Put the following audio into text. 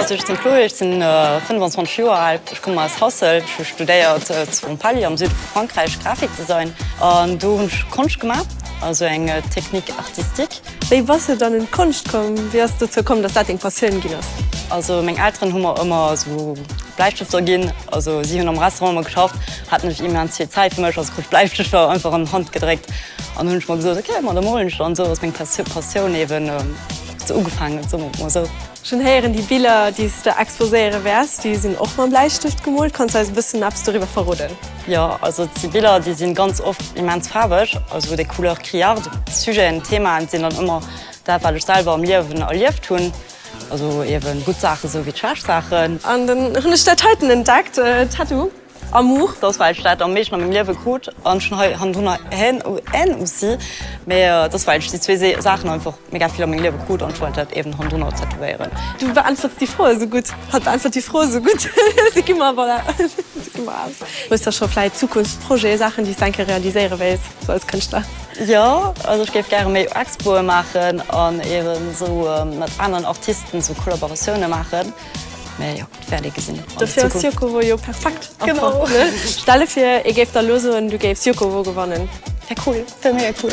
Also ech sinn d'Chloé, ech sinn 25 Joer al, ech komme aus Hasselt. Ech hu studéiert zu Montpellier am Süde vu Frankräich Grafikdesign an do hunn ech Konscht gemaach, also eng Technique artistique. Wéi bass du dann un d'Konscht komm? Wéi ass et dozou komm, datt dat deng Passioun ginn ass? Also meng Elteren hu mer ëmmer esou Bläistëfter ginn. Also si hunn am Restaurant ëmmer geschafft, haten ech immens vill Zäit fir mech, also krut ech Bläistëfter einfach an d'Hand gedréckt. An hunn ech mer gesot, ok, ma da molen ech dann esou, ass meng Passioun eeben esou ugefaangen, soen mer et mol esou. Schonn héieren, déi Biller, déi s de exposéiere wäers, déi sinn och mam Bläistëft gemoolt. Kanns de eis e bëssen eppes doriwwer verroden? Jo, also et si Biller, déi sinn ganz oft immens faarweg, also des couleurs criardes. Sujeten, Themaen sinn dann ëmmer dat, wat ech selwer am Liewen erlieft hunn, also eeben gutt Saachen esou wéi schlecht Saachen. An dann hunn ech dat heiten entdeckt, Tattoo. Amour, dass well ech dat am meeschten a mengem Liewe krut an schon hei hannendrunner Haine ou si, mee dass well ech déi zwee Saachen einfach mega vill a mengem Liewe krut an ech wollt dat eben hannendrunner tätowéieren. Du beäntwerts déi Froe sou gutt. Hatt beäntwert déi Froe sou gutt. Si gi mer, voilà, si gi mer aus. Hues da scho vläit Zukunftsprojeten, Saachen, déi s de eng Kéier realiséiere wéilt, sou als Kënschtler? Jo, also ech géif gäre méi Expoe maachen an eben sou mat aneren Artisten sou Kollaboratioune maachen. Mee jo, et wäert ee gesinn. Dofir ass Jukovo jo perfekt. Genau. Stell de vir, ee géif der elo soen, du géifs Jukovo gewannen. Wär cool. Wär mega cool.